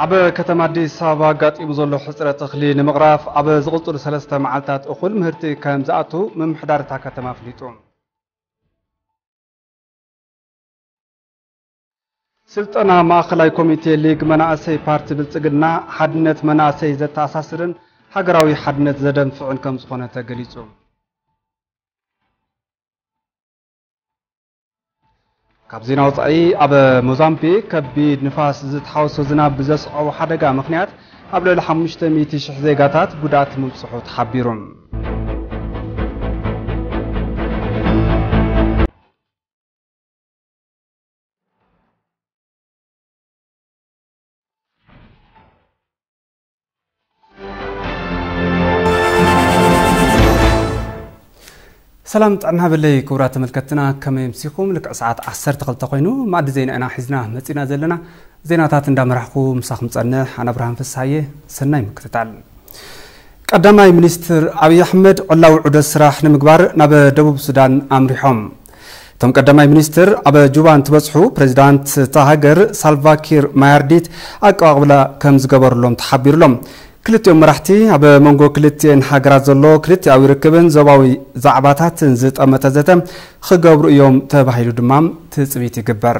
ኣብ ከተማ ኣዲስ ኣበባ ኣጋጢሙ ዘሎ ሕፅረት እኽሊ ንምቕራፍ ኣብ ዝቕፅሉ ሰለስተ መዓልታት እኹል ምህርቲ ከም ዝኣቱ ምምሕዳር እታ ከተማ ኣፍሊጡ። ስልጠና ማእኸላይ ኮሚቴ ሊግ መናእሰይ ፓርቲ ብልፅግና ሓድነት መናእሰይ ዘተኣሳስርን ሃገራዊ ሓድነት ዘደንፍዕን ከምዝኾነ ተገሊፁ። ካብ ዜና ወፃኢ ኣብ ሞዛምቢክ ከቢድ ንፋስ ዝተሓወሶ ዝናብ ብዘስዓቦ ሓደጋ ምክንያት ኣብ ልዕሊ 500 ሽሕ ዜጋታት ጉድኣት ምብፅሑ ተሓቢሩ። ሰላም ጥዕና በለይ ክቡራት ተመልከትና ከመይ ምሲኹም ልክዕ ሰዓት 12 ኮይኑ ማዕዲ ዜና ኢና ሒዝና መፂና ዘለና ዜናታት እንዳመራሕኩ ምሳኹም ፀንሕ ኣነ ብርሃን ፍስሃየ ሰናይ ምክትታል ቀዳማይ ሚኒስትር ኣብዪ ኣሕመድ ዕላዊ ዑደት ስራሕ ንምግባር ናብ ደቡብ ሱዳን ኣምሪሖም እቶም ቀዳማይ ሚኒስትር ኣብ ጁባ እንትበፅሑ ፕሬዚዳንት እታ ሃገር ሳልቫኪር ማያርዲት ኣቀባቕብላ ከም ዝገበርሎም ተሓቢሩሎም። ክልቲኦም መራሕቲ ኣብ መንጎ ክልቲኤን ሃገራት ዘሎ ክልቲኣዊ ርክብን ዞባዊ ዛዕባታትን ዝጠመተ ዘተ ክገብሩ እዮም ተባሂሉ ድማ ትፅቢት ይግበር።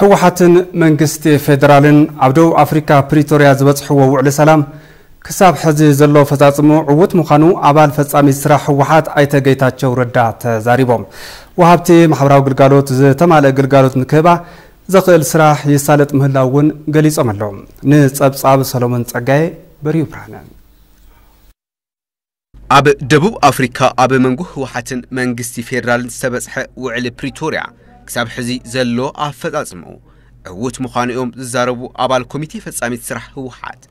ህወሓትን መንግስቲ ፌደራልን ኣብ ደቡብ ኣፍሪካ ፕሪቶርያ ዝበፅሕዎ ውዕሊ ሰላም ክሳብ ሕዚ ዘሎ ፈፃፅሙ ዕውት ምዃኑ ኣባል ፈፃሚት ስራሕ ህወሓት ኣይተ ጌታቸው ረዳ ተዛሪቦም። ወሃብቲ ማሕበራዊ ግልጋሎት ዝተማልእ ግልጋሎት ንክህባ ዘኽእል ስራሕ ይሳለጥ ምህላው እውን ገሊፆም ኣለዉ። ንፀብፃብ ሰሎሞን ፀጋዬ በሪሁ ብርሃነ ኣብ ደቡብ ኣፍሪካ ኣብ መንጎ ህወሓትን መንግስቲ ፌዴራልን ዝተበፅሐ ውዕሊ ፕሪቶሪያ ክሳብ ሕዚ ዘሎ ኣፈፃፅምኡ ዕዉት ምዃኑ እዮም ዝዛረቡ ኣባል ኮሚቴ ፈፃሚት ስራሕ ህወሓት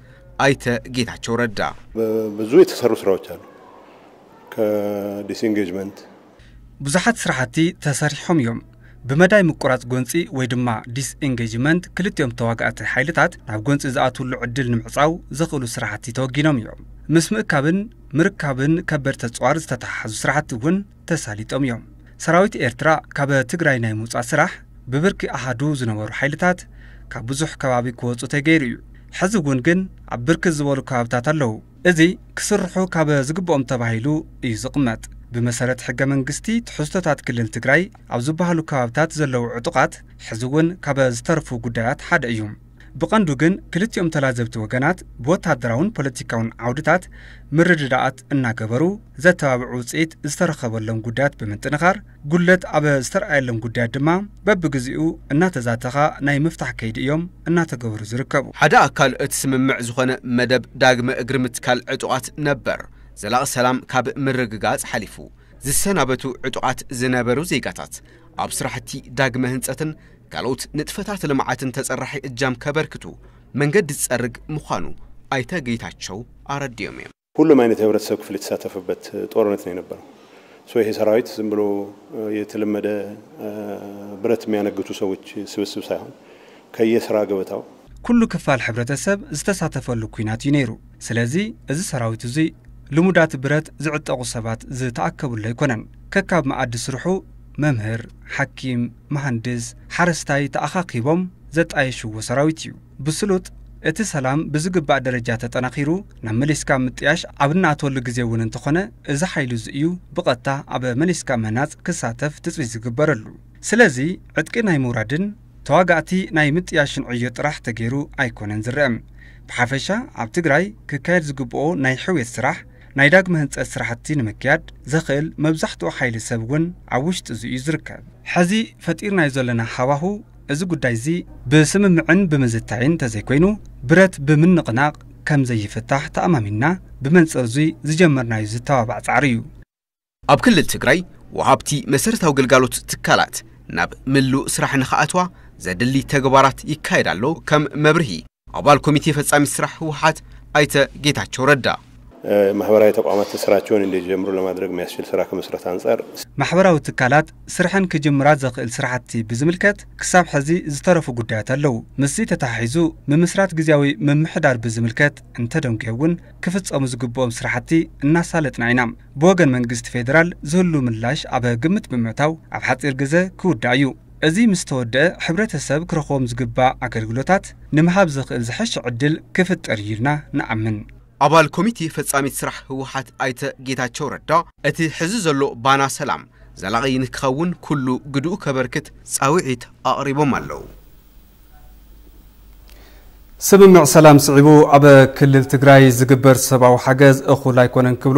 ኣይተ ጌታቸው ረዳ። ብዙ የተሰሩ ስራዎች አሉ ከዲስኢንጌጅመንት ብዙሓት ስራሕቲ ተሰሪሖም እዮም። ብመዳይ ምቁራጽ ጎንጺ ወይ ድማ ዲስኢንጌጅመንት ክልቲኦም ተዋጋእቲ ሓይልታት ናብ ጎንጺ ዝኣትውሉ ዕድል ንምዕጻው ዘኽእሉ ስራሕቲ ተወጊኖም እዮም። ምስ ምእካብን ምርካብን ከበድቲ ኣጽዋር ዝተተሓሓዙ ስራሕቲ እውን ተሳሊጦም እዮም። ሰራዊት ኤርትራ ካብ ትግራይ ናይ ምውጻእ ስራሕ ብብርኪ ኣሃዱ ዝነበሩ ሓይልታት ካብ ብዙሕ ከባቢ ክወጹ ተገይሩ እዩ። ሕዚ እውን ግን ኣብ ብርክት ዝበሉ ከባብታት ኣለዉ። እዚ ክስርሑ ካብ ዝግበኦም ተባሂሉ እዩ ዝቕመጥ። ብመሰረት ሕገ መንግስቲ ትሕዝቶታት ክልል ትግራይ ኣብ ዝበሃሉ ከባብታት ዘለዉ ዕጡቓት ሕዚ እውን ካብ ዝተርፉ ጉዳያት ሓደ እዩ። ብቐንዱ ግን ክልቲኦም ተላዘብቲ ወገናት ብወታደራውን ፖለቲካውን ዓውድታት ምርድዳኣት እናገበሩ ዘተባብዕ ውፅኢት ዝተረኸበሎም ጉዳያት ብምጥንኻር ጉድለት ኣብ ዝተርኣየሎም ጉዳያት ድማ በብግዚኡ እናተዛተኻ ናይ ምፍታሕ ከይዲ እዮም እናተገበሩ ዝርከቡ። ሓደ ኣካል እቲ ስምምዕ ዝኾነ መደብ ዳግመ እግሪ ምትካል ዕጡቓት ነበር ዘላቒ ሰላም ካብ ምርግጋፅ ሓሊፉ ዝሰናበቱ ዕጡቓት ዝነበሩ ዜጋታት ኣብ ስራሕቲ ዳግመ ህንፀትን ካልኦት ንጥፈታት ልምዓትን ተፀራሒ እጃም ከበርክቱ መንገዲ ዝፀርግ ምዃኑ ኣይተ ጌታቸው ኣረዲኦም እዮም። ሁሉም ኣይነት የህብረተሰብ ክፍል የተሳተፈበት ጦርነት ነው የነበረው ሶ ይሄ ሰራዊት ዝም ብሎ የተለመደ ብረት የሚያነግቱ ሰዎች ስብስብ ሳይሆን ከየስራ ገበታው ኩሉ ክፋል ሕብረተሰብ ዝተሳተፈሉ ኲናት እዩ ነይሩ ስለዚ እዚ ሰራዊት እዙይ ልሙዳት ብረት ዝዕጠቑ ሰባት ዝተኣከብሉ ኣይኮነን ከካብ መኣዲ ስርሑ መምህር ሓኪም መሃንድስ ሓረስታይ ተኣኻኪቦም ዘጣየሽዎ ሰራዊት እዩ ብስሉጥ፣ እቲ ሰላም ብዝግባእ ደረጃ ተጠናኺሩ ናብ መሊስካ ምጥያሽ ኣብ እንኣትወሉ ግዜ እውን እንተኾነ እዚ ሓይሊ'ዚ እዩ ብቐጥታ ኣብ መሊስካ ምህናጽ ክሳተፍ ትጽቢት ዝግበረሉ። ስለዚ ዕጥቂ ናይ ምውራድን ተዋጋእቲ ናይ ምጥያሽን ዕዮ ጥራሕ ተገይሩ ኣይኮነን ዝረኣ። ብሓፈሻ ኣብ ትግራይ ክካየድ ዝግበኦ ናይ ሕውየት ስራሕ፣ ናይ ዳግመ ህንጸት ስራሕቲ ንምክያድ ዘኽእል መብዛሕትኡ ሓይሊ ሰብ እውን ኣብ ውሽጢ'ዚ እዩ ዝርከብ። ሕዚ ፈጢርናዮ ዘለና ሃዋህው እዚ ጉዳይ'ዚ ብስምምዕን ብምዝታይን እንተዘይኮይኑ ብረት ብምንቕናቕ ከም ዘይፍታሕ ተኣማሚንና ብመንጽር'ዙይ ዝጀመርናዩ ዝተባባዕ ጻዕሪ እዩ። ኣብ ክልል ትግራይ ወሃብቲ መሰረታዊ ግልጋሎት ትካላት ናብ ምሉእ ስራሕ ንኽኣትዋ ዘድሊ ተግባራት ይካየድ ኣሎ ከም መብርሂ። ኣባል ኮሚቴ ፈፃሚት ስራሕ ህወሓት ኣይተ ጌታቸው ረዳ። ማሕበራዊ ተቋማት ስራቸውን እንዲጀምሩ ለማድረግ ሚያስችል ስራ ክምስረት ኣንፃር። ማሕበራዊ ትካላት ስርሐን ክጅምራ ዘኽእል ስራሕቲ ብዝምልከት ክሳብ ሐዚ ዝተረፉ ጉዳያት ኣለው። ምስዚ ተተሓሒዙ ምምስራት ግዝያዊ ምምሕዳር ብዝምልከት እንተደንጉየ እውን ክፍፀሙ ዝግብኦም ስራሕቲ እናሳለጥና ኢና። ብወገን መንግስቲ ፌዴራል ዝህሉ ምላሽ ኣብ ግምት ብምእታው ኣብ ሓፂር ግዘ ክውዳእ እዩ። እዚ ምስ ተወደኣ ሕብረተሰብ ክረኽቦም ዝግባእ ኣገልግሎታት ንምሃብ ዘኽእል ዝሐሸ ዕድል ክፍጠር እዩ ኢልና ንኣምን። ኣባል ኮሚቴ ፈፃሚት ስራሕ ህወሓት ኣይተ ጌታቸው ረዳ እቲ ሕዚ ዘሎ ባና ሰላም ዘላቒ ንክኸውን ኩሉ ግድኡ ከበርክት ፃውዒት ኣቕሪቦም ኣለው። ስምምዕ ሰላም ስዒቡ ኣብ ክልል ትግራይ ዝግበር ሰብኣዊ ሓገዝ እኹል ኣይኮነን ክብሉ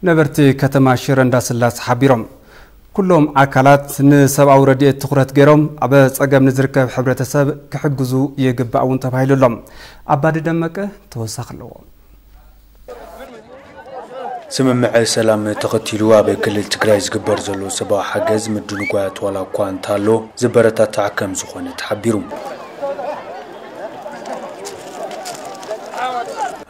ነበርቲ ከተማ ሽረ እንዳስላሰ ሓቢሮም። ኩሎም ኣካላት ንሰብኣዊ ረድኤት ትኹረት ገይሮም ኣብ ፀገም ንዝርከብ ሕብረተሰብ ክሕግዙ ይግባእ እውን ተባሂሉ ኣሎ። ኣባዲ ደመቀ ተወሳኺ ኣለዎ። ስምምዐ ሰላም ተኸቲሉ ኣብ ክልል ትግራይ ዝግበር ዘሎ ሰብኣዊ ሓገዝ ምድንጓያት ዋላ እኳ እንተሃሎ ዝበረታታዕ ከምዝኾነ ተሓቢሩ።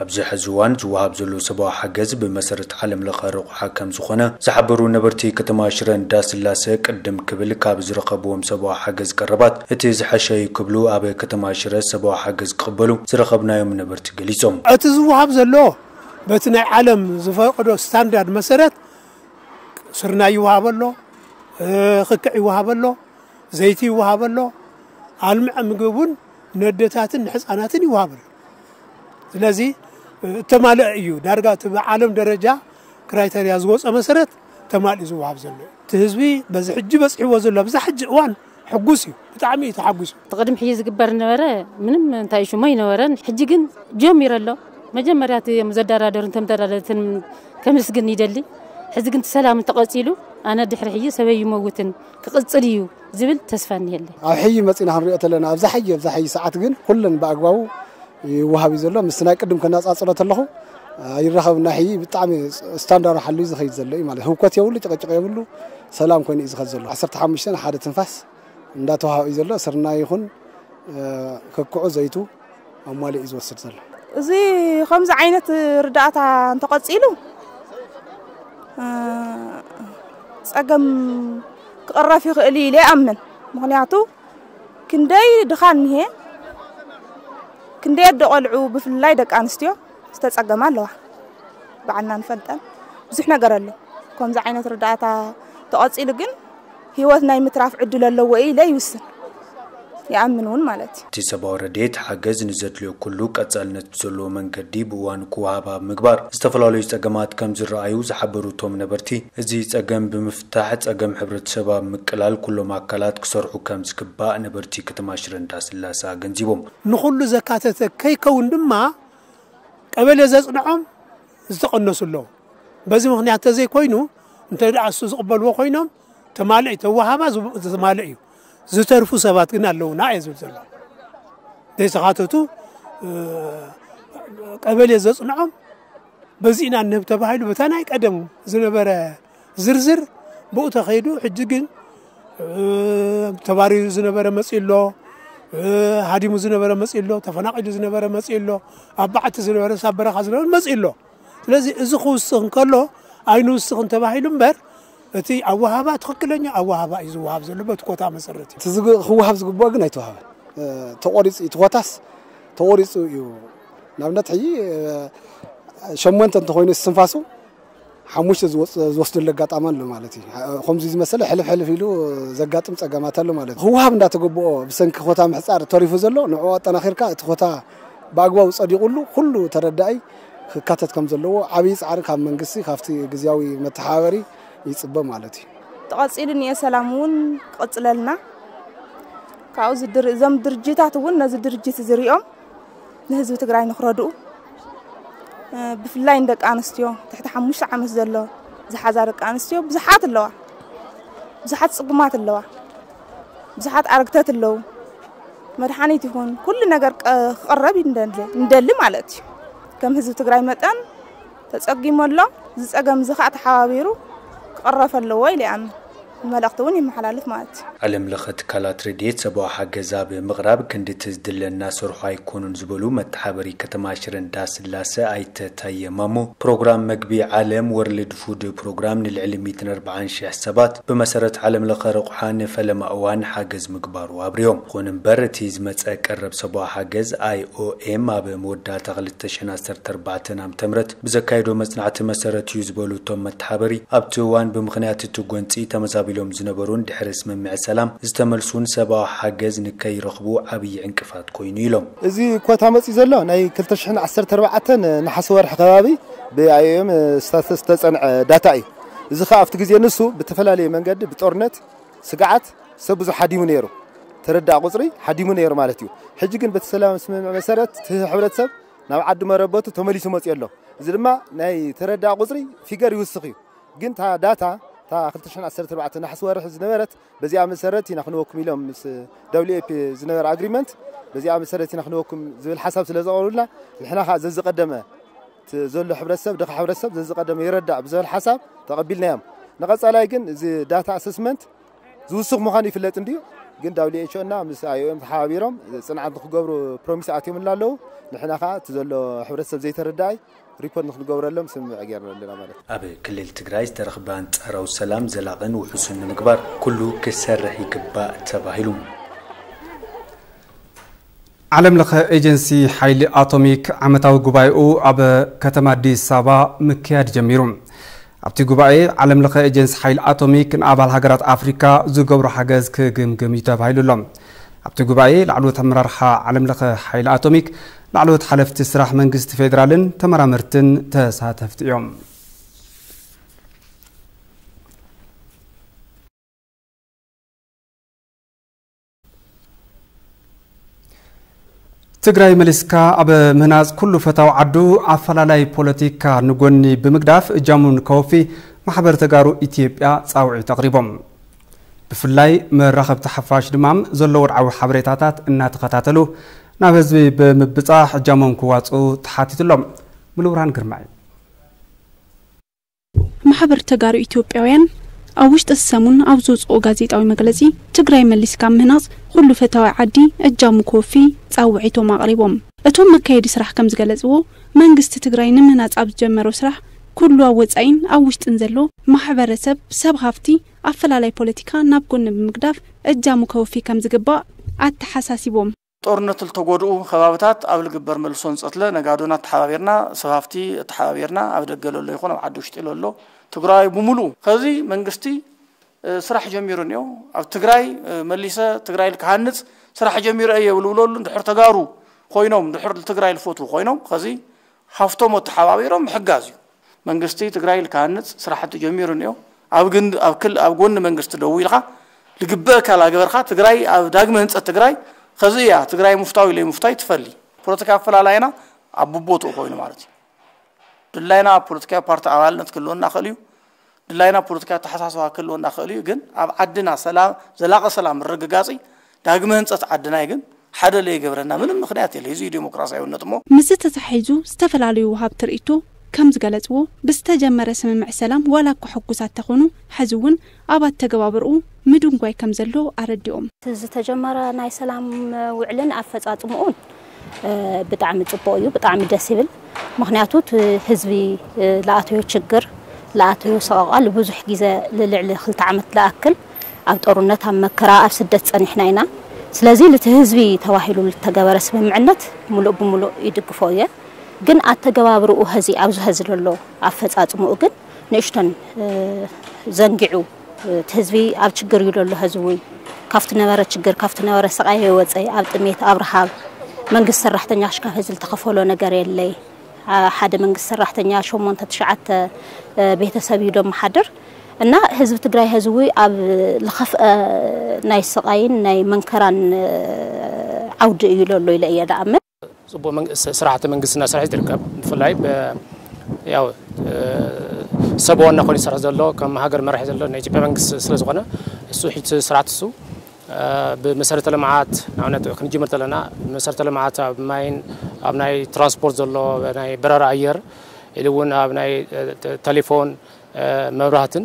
ኣብዚ ሕዚ እዋን ዝወሃብ ዘሎ ሰብኣዊ ሓገዝ ብመሰረት ዓለም ለኸ ሓ ከምዝኾነ ዝሓበሩ ነበርቲ ከተማ ሽረ እንዳስላሰ ቅድም ክብል ካብ ዝረኸብዎም ሰብኣዊ ሓገዝ ቀረባት እቲ ዝሐሸ እዩ ክብሉ ኣብ ከተማ ሽረ ሰብኣዊ ሓገዝ ክቕበሉ ዝረኸብናዮም ነበርቲ ገሊፆም። እቲ ዝወሃብ ዘሎ በቲ ናይ ዓለም ዝፈቕዶ ስታንዳርድ መሰረት ስርናይ ይወሃብ ኣሎ፣ ክክዕ ይወሃብ ኣሎ፣ ዘይቲ ይወሃብ ኣሎ፣ ኣልምዐ ምግቢ እውን ነደታትን ንሕፃናትን ይወሃብ ኣሎ። ስለዚ እተማልአ እዩ ዳርጋ እቲ ብዓለም ደረጃ ክራይተርያ ዝወፀ መሰረት ተማልኡ ዝወሃብ ዘሎ እዩ እቲ ህዝቢ በዚ ሕጂ በፅሕዎ ዘሎ ኣብዛ ሕጂ እዋን ሕጉስ እዩ ብጣዕሚ እዩ ተሓጒሱ እቲ ቅድም ሕጂ ዝግበር ነበረ ምንም እንታይ ሽሞ ይነበረን ሕጂ ግን ጀሚሩ ኣሎ መጀመርያ እቲ እዮም ዘደራደሩን ተምደራደርትን ከምስግን ይደሊ ሕዚ ግን እቲ ሰላም እንተቐፂሉ ኣነ ድሕሪ ሕጂ ሰበይ ይመውትን ክቕፅል እዩ ዝብል ተስፋ እኒሀለይ። ኣብ ሕዪ መፂና ክንሪኦ ተለና ኣብዛ ሕዪ ኣብዛ ሕዪ ሰዓት ግን ኩለን ብኣግባቡ ይወሃብ እዩ ዘሎ ምስ ናይ ቅድም ከነፃፅሮ ተለኹ ኣይራኸብን ናይ ሕዪ ብጣዕሚ ስታንዳሩ ሓልዩ ዝኸይድ ዘሎ እዩ ማለት ህውከት የብሉ ጭቕጭቕ የብሉ ሰላም ኮይኑ እዩ ዝኸድ ዘሎ ዓሰርተ ሓሙሽተ ሓደ ትንፋስ እንዳተዋሃበ እዩ ዘሎ ስርናይ ይኹን ከክዑ ዘይቱ ኣሟሊኡ ዝወስድ ዘሎ። እዚ ከምዚ ዓይነት ርዳእታ እንተቐፂሉ ፀገም ክቕረፍ ይኽእል እዩ ኢለ ይኣምን። ምክንያቱ ክንደይ ድኻ እኒሀ ክንደይ ኣደ ቆልዑ ብፍላይ ደቂ ኣንስትዮ ዝተፀገማ ኣለዋ ባዕልና ንፈልጠን ብዙሕ ነገር ኣሎ ከምዚ ዓይነት ርዳእታ ተቐፂሉ ግን ህይወት ናይ ምትራፍ ዕድል ኣለዎ ኢለ ይውስን፣ ይኣምን እውን ማለት እዩ። እቲ ሰብኣዊ ረድኤት ሓገዝ ንዘድልዮ ኩሉ ቀፃልነት ብዘለዎ መንገዲ ብእዋኑ ክወሃብ ኣብ ምግባር ዝተፈላለዩ ፀገማት ከምዝረኣዩ ዝሓበሩ እቶም ነበርቲ፣ እዚ ፀገም ብምፍታሕ ፀገም ሕብረተሰብ ኣብ ምቅላል ኩሎም ኣካላት ክሰርሑ ከምዝግባእ ነበርቲ ከተማ ሽረ እንዳስላሰ ኣገንዚቦም። ንኹሉ ዘካተተ ከይከውን ድማ ቀበሌ ዘፅንዖም ዝተቐነሱ ኣለዉ። በዚ ምኽንያት ተዘይኮይኑ እንተድኣ እሱ ዝቕበልዎ ኮይኖም ተማልእ ተወሃባ ዝተማልእ እዩ። ዝተርፉ ሰባት ግን ኣለዉና እየ ዝብል ዘሎ ዘይተኻተቱ ቀበሌ ዘጽንዖም በዚ ኢና ንህብ ተባሂሉ በታ ናይ ቀደም ዝነበረ ዝርዝር ብኡ ተኸይዱ ሕጂ ግን ተባሪሩ ዝነበረ መፅኡ ኣሎ ሃዲሙ ዝነበረ መፅኡ ኣሎ ተፈናቒሉ ዝነበረ መፅኡ ኣሎ ኣብ በዓቲ ዝነበረ ሳብ በረኻ ዝነበረ መፅኡ ኣሎ ስለዚ እዚ ክውስኽ እንከሎ ኣይንውስኽን ተባሂሉ እምበር እቲ ኣወሃባ ትኽክለኛ ኣወሃባ እዩ ዝወሃብ ዘሎ በቲ ኮታ መሰረት እዩ ክወሃብ ዝግብኦ ግን ኣይተዋሃበን ተቆሪፁ እዩ ትኾታስ ተቆሪፁ እዩ ንኣብነት ሕጂ ሸሞንተ እንተኾይኑ እስትንፋሱ ሓሙሽተ ዝወስደሉ ኣጋጣሚ ኣሎ ማለት እዩ። ከምዚ ዝመሰለ ሕልፍ ሕልፍ ኢሉ ዘጋጥም ፀገማት ኣሎ ማለት እዩ። ክወሃብ እንዳተገበኦ ብሰንኪ ኮታ ምሕፃር ተሪፉ ዘሎ ንዕኡ ኣጠናኺርካ እቲ ኮታ ብኣግባቡ ፀዲቑሉ ኩሉ ተረዳኢ ክካተት ከም ዘለዎ ዓብዪ ፃዕሪ ካብ መንግስቲ ካብቲ ግዝያዊ መተሓባበሪ ይፅበ ማለት እዩ። ተቐፂሉ እኒኤ ሰላም እውን ክቕፅለልና ካብኡ እዞም ድርጅታት እውን ነዚ ድርጅት እዚ ሪኦም ንህዝቢ ትግራይ ንክረድኡ ብፍላይ ንደቂ ኣንስትዮ ትሕቲ ሓሙሽተ ዓመት ዘሎ ዝሓዛ ደቂ ኣንስትዮ ብዙሓት ኣለዋ ብዙሓት ፅጉማት ኣለዋ ብዙሓት ኣረግተት ኣለዉ መድሓኒት ይኹን ኩሉ ነገር ክቕረብ ንደሊ ማለት እዩ ከም ህዝቢ ትግራይ መጠን ተጸጊሙ ኣሎ። እዚ ጸገም እዚ ከኣ ተሓባቢሩ ክቕረፍ ኣለዎ ኢለ ይኣምን። መልእኽቲ እውን የመሓላልፍ ማለት እዩ። ዓለም ለኸ ትካላት ረድኤት ሰብኣዊ ሓገዝ ኣብ ምቕራብ ክንዲ እቲ ዝድለ እናሰርሑ ኣይኮኑን ዝበሉ መተሓበሪ ከተማ ሽረ እንዳስላሰ ኣይተ ታየ ማሞ፣ ፕሮግራም መግቢ ዓለም፣ ወርልድ ፉድ ፕሮግራም፣ ንልዕሊ ሚእትን ኣርባዓን ሽሕ ሰባት ብመሰረት ዓለም ለኸ ረቑሓ ንፈለማ እዋን ሓገዝ ምግባሩ ኣብሪሆም። ይኹን እምበር እቲ ዝመፀ ቀረብ ሰብኣዊ ሓገዝ፣ IOM፣ ኣብ መወዳእታ ክልተ። ተሸን ዓሰርተ ኣርባዕተን ዓመተ ምህረት ብዘካየዶ መፅናዕቲ መሰረት እዩ ዝበሉ እቶም መተሓበሪ፣ ኣብቲ እዋን ብምኽንያት እቲ ጎንፂ ተመዛቢሎም ዝነበሩን ድሕሪ ስምምዕ ሰላም ዝተመልሱን ሰብኣዊ ሓገዝ ንከይረኽቡ ዓብዪ ዕንቅፋት ኮይኑ ኢሎም። እዚ ኮታ መፂኡ ዘሎ ናይ ክልተ ሽሕን ዓሰርተ ኣርባዕተን ነሓሰ ወርሒ ከባቢ ብIOM ዝተፀንዐ ዳታ እዩ። እዚ ከዓ ኣብቲ ግዜ ንሱ ብተፈላለየ መንገዲ ብጦርነት ስግዓት፣ ሰብ ብዙሕ ሃዲሙ ነይሩ ተረዳእ ቁጽሪ ሃዲሙ ነይሩ ማለት እዩ ሕጂ ግን በቲ ሰላም ስምምዕ መሰረት እቲ ሕብረተሰብ ናብ ዓዱ መረበቱ ተመሊሱ መጽዮ ኣሎ እዚ ድማ ናይ ተረዳእ ቁጽሪ ፊገር ይውስኽ እዩ ግን እታ ዳታ እታ 2014 ናሕሲ ወርሒ ዝነበረት በዚኣ መሰረት ኢና ክንወኩም ኢሎም ምስ ደብሊው ኤፒ ዝነበረ ኣግሪመንት በዚኣ መሰረት ኢና ክንወኩም ዝብል ሓሳብ ስለ ዘቕርቡልና ንሕና ከዓ ዘዝቀደመ ዘሎ ሕብረተሰብ ድኻ ሕብረተሰብ ዘዝቀደመ ይረዳእ ብዝብል ሓሳብ ተቐቢልናዮም ንቐጻላይ ግን እዚ ዳታ ኣሰስመንት ዝውስኽ ምዃኑ ይፍለጥ እንድዩ ግን ዳብሊው ኤች ኦ እና ምስ ኣይኦኤም ተሓባቢሮም ፅንዓት ንክገብሩ ፕሮሚስ ኣትዮምላ ኣለዉ ንሕና ከዓ እቲ ዘሎ ሕብረተሰብ ዘይተረዳኣይ ሪፖርት ንክንገብረሎም ስምምዕ ገይርና ኣለና ማለት እዩ። ኣብ ክልል ትግራይ ዝተረኽበ ኣንፃራዊ ሰላም ዘላቕን ውሑስን ንምግባር ኩሉ ክሰርሕ ይግባእ ተባሂሉ። ዓለምለኸ ኤጀንሲ ሓይሊ ኣቶሚክ ዓመታዊ ጉባኤኡ ኣብ ከተማ ኣዲስ ኣበባ ምክያድ ጀሚሩ። ኣብቲ ጉባኤ ዓለምለኸ ኤጀንሲ ሓይሊ ኣቶሚክ ንኣባል ሃገራት ኣፍሪካ ዝገብሮ ሓገዝ ክግምግም እዩ ተባሂሉ ኣሎ። ኣብቲ ጉባኤ ላዕለዎት ኣመራርሓ ዓለምለኸ ሓይሊ ኣቶሚክ፣ ላዕለዎት ሓለፍቲ ስራሕ መንግስቲ ፌዴራልን ተመራመርትን ተሳተፍቲ እዮም። ትግራይ መሊስካ ኣብ ምህናፅ ኩሉ ፈታው ዓዱ ኣፈላላይ ፖለቲካ ንጎኒ ብምግዳፍ እጃሙን ከወፊ ማሕበር ተጋሩ ኢትዮጵያ ፃውዒት ኣቕሪቦም። ብፍላይ መራኸብቲ ሓፋሽ ድማ ዘሎ ወድዓዊ ሓበሬታታት እናተኸታተሉ ናብ ህዝቢ ብምብፃሕ እጃሞም ክዋፅኡ ተሓቲቱ ኣሎ። ሙሉብርሃን ግርማይ ማሕበር ተጋሩ ኢትዮጵያውያን ኣብ ውሽጢ እዚ ሰሙን ኣብ ዘውጽኦ ጋዜጣዊ መግለጺ፣ ትግራይ መሊስካ ኣብ ምህናጽ ኹሉ ፈታዊ ዓዲ እጃሙ ክወፊ ጻውዒቶም ኣቕሪቦም። እቶም መካየዲ ስራሕ ከም ዝገለጽዎ፣ መንግስቲ ትግራይ ንምህናጽ ኣብ ዝጀመሮ ስራሕ ኩሉ ኣብ ወጻኢን ኣብ ውሽጥን ዘሎ ማሕበረሰብ፣ ሰብ ሃፍቲ፣ ኣፈላላይ ፖለቲካ ናብ ጎኒ ብምግዳፍ እጃሙ ከወፊ ከም ዝግባእ ኣተሓሳሲቦም። ጦርነት ልተጎድኡ ከባብታት ኣብ ልግበር መልሶ ንጸትለ ነጋዶና ኣተሓባቢርና ሰብ ሃፍቲ ኣተሓባቢርና ኣብ ደገ ለሎ ይኹን ኣብ ዓዲ ውሽጢ ለሎ ትግራዋይ ብሙሉኡ ኸዚ መንግስቲ ስራሕ ጀሚሩ እኒኦ ኣብ ትግራይ መሊሰ ትግራይ ልክሃንጽ ስራሕ ጀሚረ እየ ልብለሉ እንድሕር ተጋሩ ኾይኖም እንድሕር ልትግራይ ልፈትዉ ኾይኖም ኸዚ ሃፍቶሞ ተሓባቢሮም ምሕጋዝ እዩ። መንግስቲ ትግራይ ልክሃንፅ ስራሕቲ ጀሚሩ እኒኦ። ኣብ ግንድ ኣብ ክል ኣብ ጎኒ መንግስቲ ደው ኢልኻ ልግበእካ ላገበርኻ ትግራይ ኣብ ዳግመ ህንፀት ትግራይ ኸዚ እያ ትግራይ ሙፍታዊ ለይሙፍታይ ትፈሊ። ፖለቲካ ኣፈላላይና ኣብ ቡቦትኡ ኮይኑ ማለት እዩ። ድላይና ፖለቲካዊ ፓርቲ ኣባልነት ክህልወና ይኸእል እዩ። ድላይና ፖለቲካዊ ኣተሓሳስባ ክህልወና ክእል እዩ ግን ኣብ ዓድና ሰላም ዘላቂ ሰላም ምርግጋጽ ዳግመ ህንጸት ዓድናይ ግን ሓደ ለይገብረና ምንም ምክንያት የለ እዚ ዲሞክራሲያዊነት እሞ ምስዚ ተተሓሒዙ ዝተፈላለዩ ወሃብቲ ርእይቶ ከም ዝገለጽዎ ብዝተጀመረ ስምምዕ ሰላም ዋላ እኳ ሕጉሳት ተኾኑ ሐዚ እውን ኣብ ኣተገባብርኡ ምድንጓይ ከም ዘሎ ኣረዲኦም። እቲ ዝተጀመረ ናይ ሰላም ውዕልን ኣፈፃፅምኡን ብጣዕሚ ፅቡቅ እዩ ብጣዕሚ ደስ ይብል ምክንያቱ እቲ ህዝቢ ለኣተዮ ችግር ለኣተዮ ሰቆቃ ልብዙሕ ግዘ ልልዕሊ ክልተ ዓመት ልኣክል ኣብ ጦርነት ኣብ መከራ ኣብ ስደት ፀኒሕና ኢና ስለዚ ልቲ ህዝቢ ተባሂሉ ልተገበረ ስምምዕነት ሙሉእ ብሙሉእ ይድግፎ እየ ግን ኣተገባብርኡ ሀዚ ኣብዚ ሀዚ ለሎ ኣፈፃፅምኡ ግን ንእሽቶን ዘንጊዑ እቲ ህዝቢ ኣብ ችግር እዩ ዘሎ ሀዚ እውን ካብቲ ነበረ ችግር ካብቲ ነበረ ስቃይ የወፀ ኣብ ጥሜት ኣብ ረሃብ መንግስት ሰራሕተኛ ክሽካብ ሀዚ ዝተኸፈሎ ነገር የለይ ሓደ መንግስት ሰራሕተኛ ሸሞንተ ትሽዓተ ቤተሰብ እዩ ደመሓድር እና ህዝቢ ትግራይ ህዝዊ ኣብ ዝኸፍአ ናይ ስቓይን ናይ መንከራን ዓውዲ እዩ ለሎ ኢለ እየ ደኣምን። ፅቡቅ ስራሕቲ መንግስቲ እናሰርሐ እዩ ዝርከብ ብፍላይ ያው ሰብ ዋና ኮይኑ ዝሰርሕ ዘሎ ከም ሃገር መራሒ ዘሎ ናይ ኢትዮጵያ መንግስቲ ስለ ዝኾነ እሱ ሕጂ ስርዓት እሱ ብመሰረተ ልምዓት ንኣብነት ክንጅምር ዘለና መሰረተ ልምዓት ኣብ ማይን ኣብ ናይ ትራንስፖርት ዘሎ ናይ በረራ ኣየር ኢሉ እውን ኣብ ናይ ቴሌፎን መብራህትን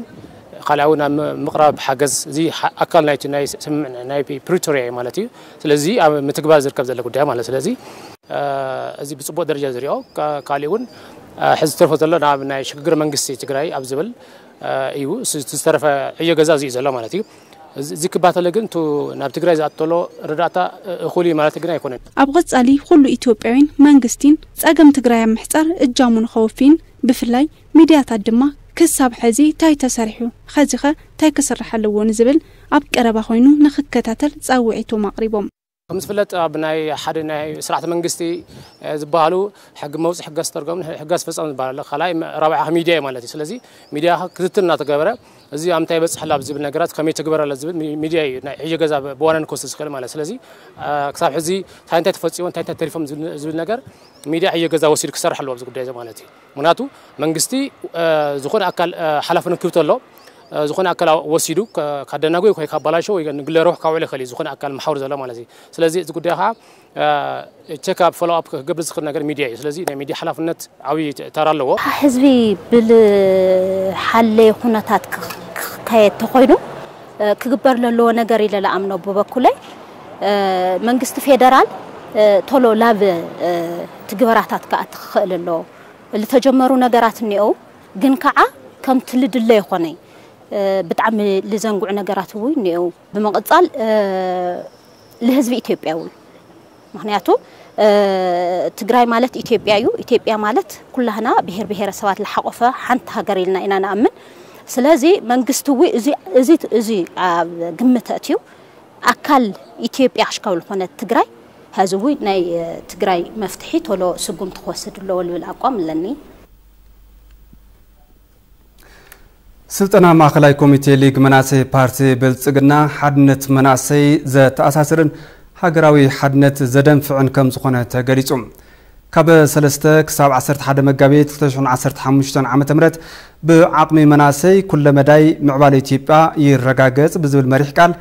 ካልኣ እውን ኣብ ምቕራብ ሓገዝ እዚ ኣካል ናይቲ ናይ ስምምዕ ናይ ፕሪቶሪያ እዩ ማለት እዩ። ስለዚ ኣብ ምትግባር ዝርከብ ዘሎ ጉዳይ ማለት ስለዚ እዚ ብፅቡቅ ደረጃ ዝሪኦ ካሊእ እውን ሕዚ ዝተርፎ ዘሎ ናብ ናይ ሽግግር መንግስቲ ትግራይ ኣብ ዝብል እዩ ዝተረፈ ዕዮ ገዛ እዚ እዩ ዘሎ ማለት እዩ። እዚ ክባተለ ግን እቱ ናብ ትግራይ ዝኣተሎ ረዳእታ እኹል እዩ ማለት ግን ኣይኮነን። ኣብ ቐፃሊ ኹሉ ኢትዮጵያዊን መንግስቲን ፀገም ትግራይ ኣብ ምሕፃር እጃሙ ንኸወፊን ብፍላይ ሚድያታት ድማ ክሳብ ሐዚ ታይ ተሰሪሑ ኸዚኸ ታይ ክስራሕ ኣለዎ ንዝብል ኣብ ቀረባ ኾይኑ ንኽከታተል ፃውዒቶም ኣቕሪቦም። ከምዝፍለጥ ኣብ ናይ ሓደ ናይ ስርዓተ መንግስቲ ዝበሃሉ ሕጊ መውፅኢ ሕጊ ኣስተርጓሚ ሕጊ ኣስፈፃሚ ዝበሃል ኣሎ ካልኣይ ራብዓይ ከ ሚድያ እዩ ማለት እዩ ስለዚ ሚድያ ከ ክትትል እናተገበረ እዚ ኣብ ምንታይ በፅሕ ኣሎ ኣብ ዝብል ነገራት ከመይ ይትግበር ኣሎ ዝብል ሚድያ እዩ ናይ ዕዮ ገዛ ብዋናነት ክወስድ ዝኽእል ማለት ስለዚ ክሳብ ሕዚ ታይ እንታይ ተፈፂሙ እንታይ እንታይ ተሪፎም ዝብል ነገር ሚድያ ዕዮ ገዛ ወሲዱ ክሰርሕ ኣለዎ ኣብዚ ጉዳይ እዚ ማለት እዩ። ምክንያቱ መንግስቲ ዝኾነ ኣካል ሓላፍነት ክህብ ተሎ ዝኾነ ኣካል ወሲዱ ካደናጎይ ወይ ካባላሾ ወይ ንግለ ረብሑ ካውዕሎ ይኽእል እዩ ዝኾነ ኣካል መሓውር ዘሎ ማለት እዩ ስለዚ እዚ ጉዳይ ከዓ ቸክ ኣብ ፎሎ ኣፕ ክገብር ዝኽእል ነገር ሚድያ እዩ ስለዚ ናይ ሚድያ ሓላፍነት ዓብዪ ተራ ኣለዎ ህዝቢ ብዝሓለየ ኩነታት ክካየድ ተኾይኑ ክግበር ለለዎ ነገር ኢለ ልኣምኖ ብበኩለይ መንግስቲ ፌደራል ቶሎ ላብ ትግበራታት ክኣቲ ክኽእል ኣለዎ። ልተጀመሩ ነገራት እኒኦው ግን ከዓ ከምቲ ልድለ ኣይኾነይ ብጣዕሚ ልዘንጉዕ ነገራት እውይ እኒኦው። ብምቕፃል ልህዝቢ ኢትዮጵያ እውን። ምኽንያቱ ትግራይ ማለት ኢትዮጵያ እዩ፣ ኢትዮጵያ ማለት ኩላህና ብሄር ብሄረሰባት ልሓቖፈ ሓንቲ ሃገር ኢልና ኢና ንኣምን። ስለዚ መንግስቲ እው እዚ እዚ ኣብ ግምት ኣእትዩ ኣካል ኢትዮጵያ ክሽከብ ልኾነት ትግራይ ሐዚ እው ናይ ትግራይ መፍትሒ ቶሎ ስጉምቲ ክወስድ ኣለዎ ልብል ኣቋም ኣለኒ። ስልጠና ማእኸላይ ኮሚቴ ሊግ መናእሰይ ፓርቲ ብልፅግና ሓድነት መናእሰይ ዘተኣሳስርን ሃገራዊ ሓድነት ዘደንፍዕን ከም ዝኾነ ተገሊፁ። ካብ 3 ክሳብ 11 መጋቢት 2015 ዓ ም ብዓቕሚ መናእሰይ ኩለ መዳይ ምዕባለ ኢትዮጵያ ይረጋገፅ ብዝብል መሪሕ ቃል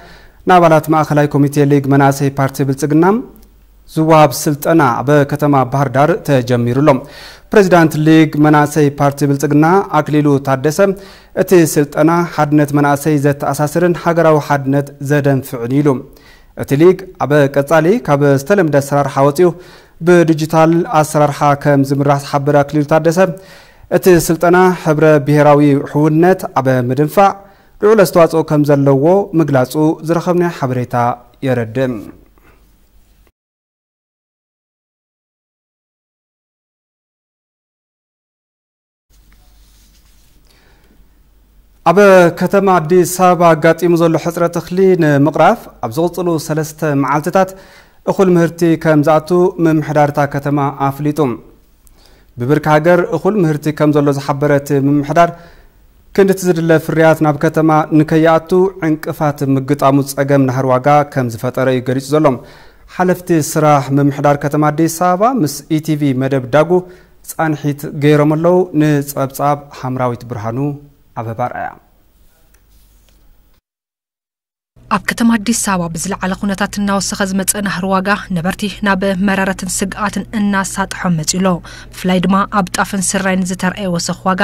ንኣባላት ማእኸላይ ኮሚቴ ሊግ መናእሰይ ፓርቲ ብልፅግና ዝወሃብ ስልጠና ኣብ ከተማ ባህርዳር ተጀሚሩ ኣሎ። ፕሬዚዳንት ሊግ መናእሰይ ፓርቲ ብልፅግና ኣክሊሉ ታደሰ እቲ ስልጠና ሓድነት መናእሰይ ዘተኣሳስርን ሃገራዊ ሓድነት ዘደንፍዕን እዩ ኢሉ። እቲ ሊግ ኣብ ቀፃሊ ካብ ዝተለምደ ኣሰራርሓ ወፂኡ ብዲጂታል ኣሰራርሓ ከም ዝምራሕ ዝሓበረ ኣክሊሉ ታደሰ እቲ ስልጠና ሕብረ ብሄራዊ ሕውነት ኣብ ምድንፋዕ ልዑል ኣስተዋፅኦ ከም ዘለዎ ምግላፁ ዝረኸብናዮ ሓበሬታ የረድእ። ኣብ ከተማ ኣዲስ ኣበባ ኣጋጢሙ ዘሎ ሕፅረት እኽሊ ንምቕራፍ ኣብ ዝቕፅሉ ሰለስተ መዓልትታት እኹል ምህርቲ ከም ዝኣቱ ምምሕዳር እታ ከተማ ኣፍሊጡ። ብብርኪ ሃገር እኹል ምህርቲ ከም ዘሎ ዝሓበረ እቲ ምምሕዳር ክንዲ እቲ ዝድለ ፍርያት ናብ ከተማ ንከይኣቱ ዕንቅፋት ምግጣሙ ፀገም ናህሪ ዋጋ ከምዝፈጠረ እዩ ገሊፁ ዘሎ። ሓለፍቲ ስራሕ ምምሕዳር ከተማ ኣዲስ ኣበባ ምስ ኢቲቪ መደብ ዳጉ ፃንሒት ገይሮም ኣለው። ንፀብፃብ ሃምራዊት ብርሃኑ ኣበባ ኣርኣያ። ኣብ ከተማ ኣዲስ ኣበባ ብዝለዓለ ኩነታት እናወሰኸ ዝመፀ ናህሪ ዋጋ ነበርቲ ናብ መረረትን ስግኣትን እናሳጥሖም መፂኡ ኣሎ። ብፍላይ ድማ ኣብ ጣፍን ስርናይን ዝተርኣየ ወሰኽ ዋጋ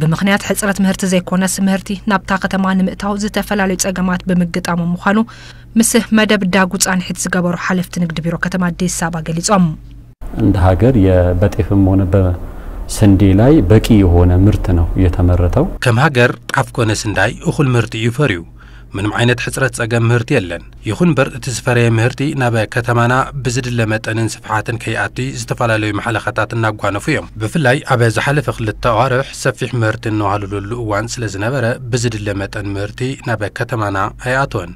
ብምኽንያት ሕፅረት ምህርቲ ዘይኮነስ ምህርቲ ናብታ ከተማ ንምእታው ዝተፈላለዩ ፀገማት ብምግጣሞም ምዃኑ ምስ መደብ ዳጉ ፃንሒት ዝገበሩ ሓለፍቲ ንግዲ ቢሮ ከተማ ኣዲስ ኣበባ ገሊፆም። እንደ ሀገር በጤፍም ሆነ በስንዴ ላይ በቂ የሆነ ምርት ነው የተመረተው። ከም ሃገር ጣፍ ኮነ ስንዳይ እኹል ምህርቲ እዩ ፈርዩ። ምንም ዓይነት ሕጽረት ጸገም ምህርቲ የለን። ይኹን እምበር እቲ ዝፈረየ ምህርቲ ናብ ከተማና ብዝድለ መጠንን ስፍሓትን ከይኣቲ ዝተፈላለዩ ማሕለኻታት እናጓነፉ እዮም። ብፍላይ ኣብ ዝሓለፈ ክልተ ኣዋርሕ ሰፊሕ ምህርቲ እንዋሃለለሉ እዋን ስለዝነበረ ብዝድለ መጠን ምህርቲ ናብ ከተማና ኣይኣተወን።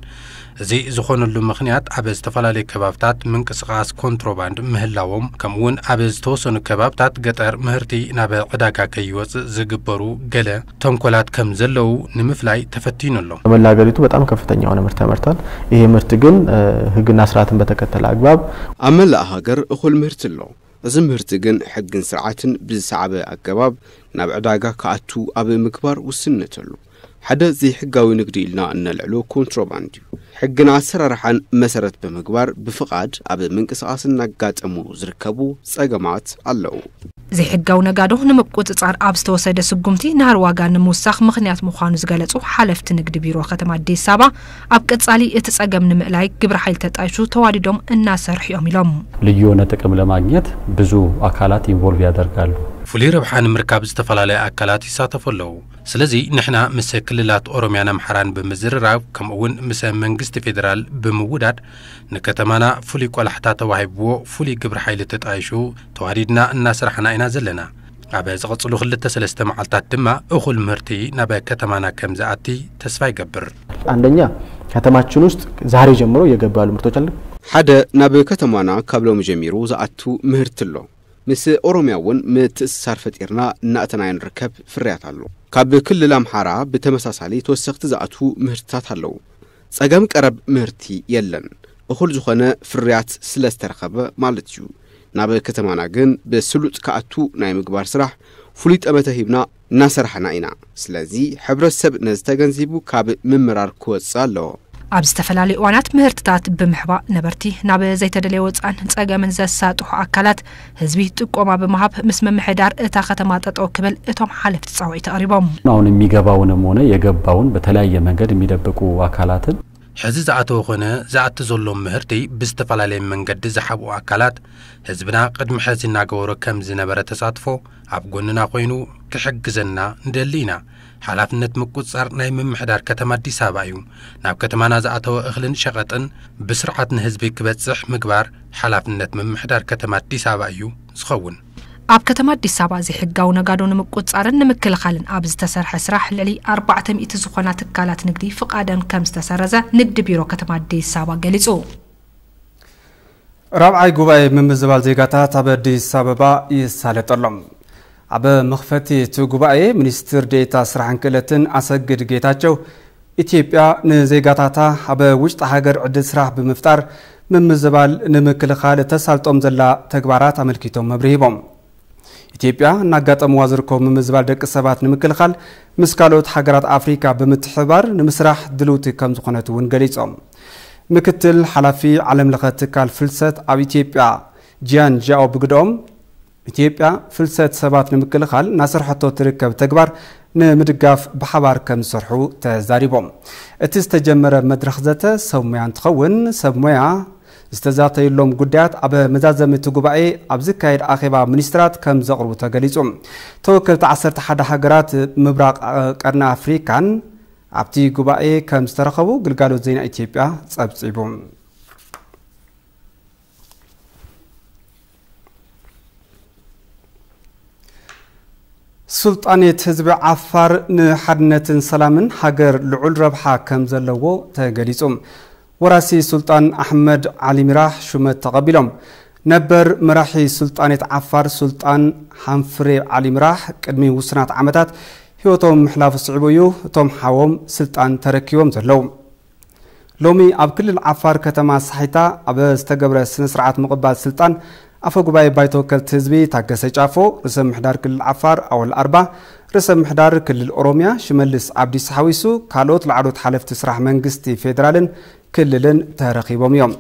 እዚ ዝኾነሉ ምኽንያት ኣብ ዝተፈላለዩ ከባብታት ምንቅስቓስ ኮንትሮባንድ ምህላዎም ከምኡ'ውን ኣብ ዝተወሰኑ ከባብታት ገጠር ምህርቲ ናብ ዕዳጋ ከይወጽእ ዝግበሩ ገለ ተንኮላት ከም ዘለዉ ንምፍላይ ተፈቲኑ ኣሎ። ተመን ለሀገሪቱ በጣም ከፍተኛ የሆነ ምርት ያመርታል ይሄ ምርት ግን ህግና ስርዓትን በተከተለ አግባብ። ኣብ መላእ ሃገር እኹል ምህርቲ ኣሎ። እዚ ምህርቲ ግን ሕግን ስርዓትን ብዝሰዓበ ኣገባብ ናብ ዕዳጋ ክኣቱ ኣብ ምግባር ውስንነት ኣሎ። ሓደ ዘይሕጋዊ ንግዲ ኢልና እነልዕሎ ኮንትሮባንድ እዩ። ሕግን ኣሰራርሓን መሰረት ብምግባር ብፍቓድ ኣብ ምንቅስቓስ እናጋጠሙ ዝርከቡ ፀገማት ኣለዉ። ዘይሕጋዊ ነጋዶ ንምቁፅፃር ኣብ ዝተወሰደ ስጉምቲ ናህሪ ዋጋ ንምውሳኽ ምኽንያት ምዃኑ ዝገለፁ ሓለፍቲ ንግዲ ቢሮ ከተማ ኣዲስ ኣበባ፣ ኣብ ቀፃሊ እቲ ፀገም ንምእላይ ግብረ ሓይሊ ተጣይሹ ተዋዲዶም እናሰርሑ እዮም ኢሎም። ልዩ የሆነ ጥቅም ለማግኘት ብዙ ኣካላት ኢንቮልቭ ያደርጋሉ። ፍሉይ ረብሓ ንምርካብ ዝተፈላለዩ ኣካላት ይሳተፉ ኣለዉ። ስለዚ ንሕና ምሰ ክልላት ኦሮሚያን ኣምሓራን ብምዝርራብ ከምኡ እውን ምሰ መንግስቲ ፌደራል ብምውዳድ ንከተማና ፍሉይ ቆላሕታ ተዋሂብዎ ፍሉይ ግብረ ሓይሊ ተጣይሹ ተዋዲድና እናሰራሕና ኢና ዘለና። ኣብ ዝቕፅሉ ክልተ ሰለስተ መዓልታት ድማ እኹል ምህርቲ ናብ ከተማና ከምዝኣቲ ተስፋ ይገብር። አንደኛ ከተማችን ውስጥ ዛሬ ጀምሮ እየገቡ ያሉ ምርቶች አሉ። ሓደ ናብ ከተማና ካብ ሎሚ ጀሚሩ ዝኣቱ ምህርቲ ኣሎ። ምስ ኦሮሚያ እውን ምትእስሳር ፈጢርና እናእተናዮ ንርከብ ፍርያት ኣሎ። ካብ ክልል ኣምሓራ ብተመሳሳሊ ተወሰኽቲ ዝኣትዉ ምህርትታት ኣለዉ። ፀገም ቀረብ ምህርቲ የለን፣ እኹል ዝኾነ ፍርያት ስለ ዝተረኸበ ማለት እዩ። ናብ ከተማና ግን ብስሉጥ ክኣቱ ናይ ምግባር ስራሕ ፍሉይ ጠመተ ሂብና፣ እናሰራሕና ኢና ስለዚ ሕብረተሰብ ነዚ ተገንዚቡ ካብ ምምራር ክወፅእ ኣለዎ። ኣብ ዝተፈላለዩ እዋናት ምህርትታት ብምሕባእ ነበርቲ ናብ ዘይተደለየ ወፅዓን ፀገምን ዘሳጥሑ ኣካላት ህዝቢ ጥቆማ ብምሃብ ምስ ምምሕዳር እታ ከተማ ጠጠው ክብል እቶም ሓለፍቲ ፃውዒት ኣቕሪቦም። አሁን የሚገባውንም ሆነ የገባውን በተለያየ መንገድ የሚደብቁ አካላትን። ሕዚ ዝኣተወ ኮነ ዝኣቲ ዘሎ ምህርቲ ብዝተፈላለየ መንገዲ ዝሓብኡ ኣካላት ህዝብና ቅድሚ ሕዚ እናገበሮ ከም ዝነበረ ተሳትፎ ኣብ ጎንና ኮይኑ ክሕግዘና ንደሊ ኢና። ሓላፍነት ምቁፅፃር ናይ ምምሕዳር ከተማ ኣዲስ ኣበባ እዩ። ናብ ከተማና ዝኣተወ እኽልን ሸቐጥን ብስርዓት ንህዝቢ ክበፅሕ ምግባር ሓላፍነት ምምሕዳር ከተማ ኣዲስ ኣበባ እዩ ዝኸውን። ኣብ ከተማ ኣዲስ ኣበባ ዘይሕጋዊ ነጋዶ ንምቁፅፃርን ንምክልኻልን ኣብ ዝተሰርሐ ስራሕ ልዕሊ ኣርባዕተ ሚእቲ ዝኾና ትካላት ንግዲ ፍቓደን ከም ዝተሰረዘ ንግዲ ቢሮ ከተማ ኣዲስ ኣበባ ገሊፁ። ራብዓይ ጉባኤ ምምዝባል ዜጋታት ኣብ ኣዲስ ኣበባ ይሳለጥ ኣሎ። ኣብ መኽፈቲ እቲ ጉባኤ ሚኒስትር ዴኤታ ስራሕን ክእለትን ኣሰግድ ጌታቸው ኢትዮጵያ ንዜጋታታ ኣብ ውሽጢ ሃገር ዕድል ስራሕ ብምፍጣር ምምዝባል ንምክልኻል እተሳልጦም ዘላ ተግባራት ኣመልኪቶም መብርሂ ሂቦም። ኢትዮጵያ እናጋጠምዋ ዝርከቡ ምምዝባል ደቂ ሰባት ንምክልኻል ምስ ካልኦት ሃገራት ኣፍሪካ ብምትሕብባር ንምስራሕ ድልውቲ ከምዝኾነት እውን ገሊፆም። ምክትል ሓላፊ ዓለም ለኸ ትካል ፍልሰት ኣብ ኢትዮጵያ ጂያን ዣኦ ብግደኦም፣ ኢትዮጵያ ፍልሰት ሰባት ንምክልኻል እናሰርሐቶ እትርከብ ተግባር ንምድጋፍ ብሓባር ከምዝሰርሑ ተዛሪቦም። እቲ ዝተጀመረ መድረኽ ዘተ ሰብ ሞያ እንትኸውን ሰብ ሞያ ዝተዛተዩሎም ጉዳያት ኣብ መዛዘሚ እቲ ጉባኤ ኣብ ዝካየድ ኣኼባ ሚኒስትራት ከምዘቕርቡ ተገሊፁ። ተወከልቲ ዓሰርተ ሓደ ሃገራት ምብራቕ ቀርኒ ኣፍሪካን ኣብቲ ጉባኤ ከምዝተረኸቡ ግልጋሎት ዜና ኢትዮጵያ ፀብፂቡ። ሱልጣኔት ህዝቢ ዓፋር ንሓድነትን ሰላምን ሃገር ልዑል ረብሓ ከም ዘለዎ ተገሊጹ። ወራሲ ሱልጣን ኣሕመድ ዓሊ ሚራህ ሹመት ተቐቢሎም። ነበር መራሒ ሱልጣኔት ዓፋር ሱልጣን ሃንፍሬ ዓሊ ሚራህ ቅድሚ ውሱናት ዓመታት ህይወቶም ምሕላፉ ስዒቡ እዩ እቶም ሓዎም ስልጣን ተረኪቦም ዘለዉ። ሎሚ ኣብ ክልል ዓፋር ከተማ ሳሒታ ኣብ ዝተገብረ ስነ ስርዓት ምቕባል ስልጣን ኣፈ ጉባኤ ባይቶ ወከልቲ ህዝቢ ታገሰ ጫፎ፣ ርእሰ ምሕዳር ክልል ዓፋር ኣወል ኣርባ፣ ርእሰ ምሕዳር ክልል ኦሮሚያ ሽመልስ ኣብዲሳ ሓዊሱ ካልኦት ላዕሎት ሓለፍቲ ስራሕ መንግስቲ ፌዴራልን ክልልን ተረኺቦም እዮም።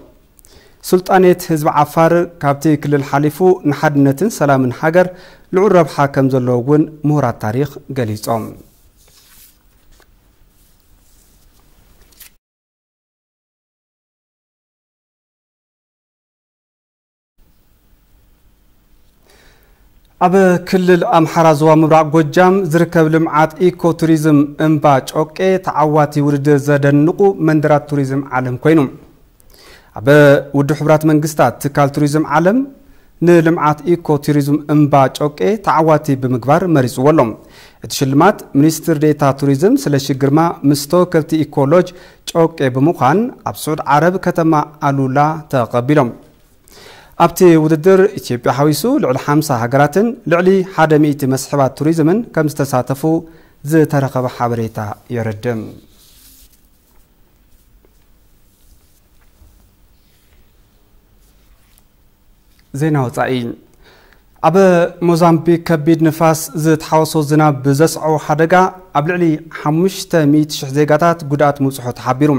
ሱልጣኔት ህዝቢ ዓፋር ካብቲ ክልል ሓሊፉ ንሓድነትን ሰላምን ሃገር ልዑል ረብሓ ከምዘለዎ እውን ምሁራት ታሪኽ ገሊፆም። ኣብ ክልል ኣምሓራ ዞባ ምብራቕ ጎጃም ዝርከብ ልምዓት ኢኮ ቱሪዝም እምባ ጮቄ ተዓዋቲ ውድድር ዘደንቑ መንደራት ቱሪዝም ዓለም ኮይኑ ኣብ ውድብ ሕቡራት መንግስታት ትካል ቱሪዝም ዓለም ንልምዓት ኢኮ ቱሪዝም እምባ ጮቄ ተዓዋቲ ብምግባር መሪፅዎ ኣሎ። እቲ ሽልማት ሚኒስትር ዴኤታ ቱሪዝም ስለሺ ግርማ ምስ ተወከልቲ ኢኮ ሎጅ ጮቄ ብምዃን ኣብ ስዑድ ዓረብ ከተማ ኣሉላ ተቐቢሎም። ኣብቲ ውድድር ኢትዮጵያ ሓዊሱ ልዕሊ ሓምሳ ሃገራትን ልዕሊ ሓደ ሚእቲ መስሕባት ቱሪዝምን ከምዝተሳተፉ ዝተረኸበ ሓበሬታ የረድእ። ዜና ወፃኢ ኣብ ሞዛምቢክ ከቢድ ንፋስ ዝተሓወሶ ዝናብ ብዘስዐቦ ሓደጋ ኣብ ልዕሊ 500,000 ዜጋታት ጉድኣት ምብፅሖ ተሓቢሩ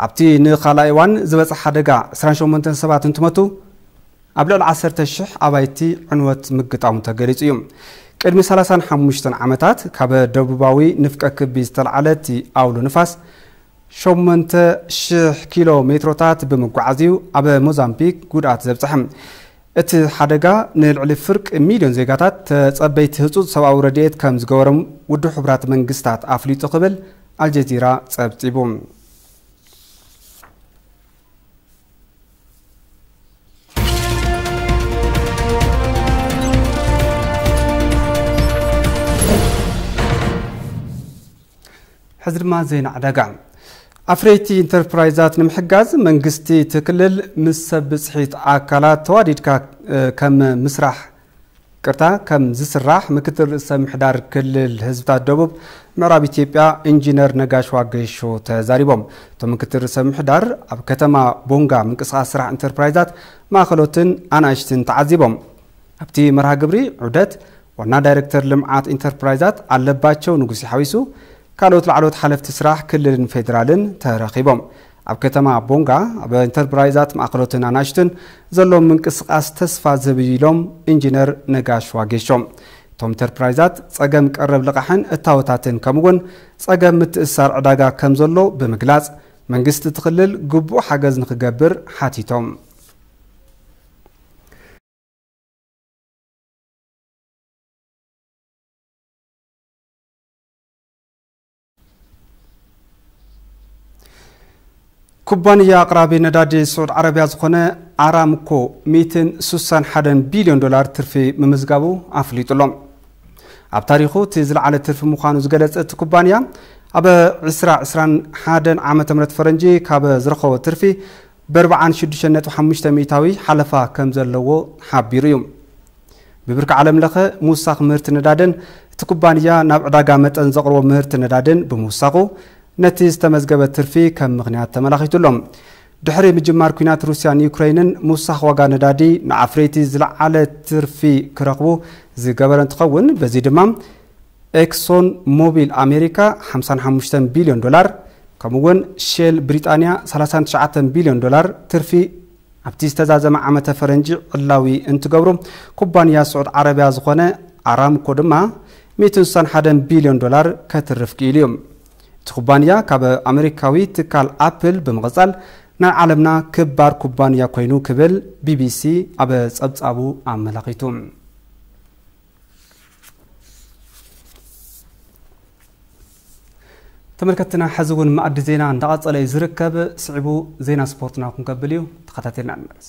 ኣብቲ ንካልኣይ እዋን ዝበፅሐ ሓደጋ 28 ሰባት እንትመቱ ኣብ ልዕሊ ዓሰርተ ሽሕ ኣባይቲ ዕንወት ምግጣሙ ተገሊጹ እዩ። ቅድሚ ሰላሳን ሓሙሽተን ዓመታት ካበ ደቡባዊ ንፍቀ ክቢ ዝተልዓለ እቲ ኣውሎ ንፋስ ሸሞንተ ሽሕ ኪሎ ሜትሮታት ብምጉዓዝ እዩ ኣብ ሞዛምቢክ ጉድኣት ዘብጽሐ። እቲ ሓደጋ ንልዕሊ ፍርቂ ሚልዮን ዜጋታት ተጸበይቲ ህጹጽ ሰብኣዊ ረድኤት ከም ዝገበሮም ውድብ ሕቡራት መንግስታት ኣፍሊጡ ክብል ኣልጀዚራ ጸብጺቡ። ሕዚ ድማ ዜና ዕዳጋ ኣፍረይቲ ኢንተርፕራይዛት ንምሕጋዝ መንግስቲ እቲ ክልል ምስ ሰብ ብፅሒት ኣካላት ተዋዲድካ ከም ምስራሕ ቅርታ ከም ዝስራሕ ምክትል ርእሰ ምሕዳር ክልል ህዝብታት ደቡብ ምዕራብ ኢትዮጵያ ኢንጂነር ነጋሽ ዋገሾ ተዛሪቦም። እቶም ምክትል ርእሰ ምሕዳር ኣብ ከተማ ቦንጋ ምንቅስቓስ ስራሕ ኢንተርፕራይዛት ማእኸሎትን ኣናእሽትን ተዓዚቦም። ኣብቲ መርሃ ግብሪ ዑደት ዋና ዳይሬክተር ልምዓት ኢንተርፕራይዛት ኣለባቸው ንጉሴ ሓዊሱ ካልኦት ላዕለዎት ሓለፍቲ ስራሕ ክልልን ፌዴራልን ተረኺቦም። ኣብ ከተማ ቦንጋ ኣብ ኢንተርፕራይዛት ማእኸሎትን ኣናእሽቱን ዘሎ ምንቅስቓስ ተስፋ ዝህብ እዩ ኢሎም ኢንጂነር ነጋሽ ዋጌሾ። እቶም ኢንተርፕራይዛት ፀገም ቀረብ ልቓሕን እታወታትን ከምኡ እውን ፀገም ምትእስሳር ዕዳጋ ከምዘሎ ብምግላፅ መንግስቲ እቲ ክልል ግቡእ ሓገዝ ንክገብር ሓቲቶም። ኩባንያ ኣቕራቢ ነዳዲ ስዑድ ዓረብያ ዝኾነ ኣራምኮ 161 ቢልዮን ዶላር ትርፊ ምምዝጋቡ ኣፍሊጡ ኣሎ ኣብ ታሪኹ እቲ ዝለዓለ ትርፊ ምዃኑ ዝገለጸ እቲ ኩባንያ ኣብ 2021 ዓ ም ፈረንጂ ካብ ዝረኸቦ ትርፊ በርብዓን ሽዱሽተን ነጥቢ ሓሙሽተ ሚእታዊ ሓለፋ ከም ዘለዎ ሓቢሩ እዩ። ብብርኪ ዓለም ለኸ ምውሳኽ ምህርቲ ነዳድን እቲ ኩባንያ ናብ ዕዳጋ መጠን ዘቕርቦ ምህርቲ ነዳድን ብምውሳኹ ነቲ ዝተመዝገበ ትርፊ ከም ምኽንያት ተመላኺቱ ኣሎ። ድሕሪ ምጅማር ኲናት ሩስያን ዩክረይንን ምውሳኽ ዋጋ ነዳዲ ንኣፍረይቲ ዝለዓለ ትርፊ ክረኽቡ ዝገበረ እንትኸውን በዚ ድማ ኤክሶን ሞቢል ኣሜሪካ ሓምሳን ሓሙሽተን ቢልዮን ዶላር ከምኡ'ውን ሼል ብሪጣንያ ሰላሳን ትሽዓተን ቢልዮን ዶላር ትርፊ ኣብቲ ዝተዛዘመ ዓመተ ፈረንጂ ዕላዊ እንትገብሩ፣ ኩባንያ ስዑድ ዓረብያ ዝኾነ ኣራምኮ ድማ ሚእትን ስሳን ሓደን ቢልዮን ዶላር ከትርፍ ክኢሉ እዩ። እቲ ኩባንያ ካብ ኣመሪካዊ ትካል ኣፕል ብምቕጻል ናይ ዓለምና ክባር ኩባንያ ኮይኑ ክብል ቢቢሲ ኣብ ጸብጻቡ ኣመላኺቱ። ተመልከትና ሕዚ እውን ማእዲ ዜና እንዳቐፀለ እዩ ዝርከብ ስዒቡ ዜና ስፖርትና ክንከብል እዩ ተኸታተልና ንመለስ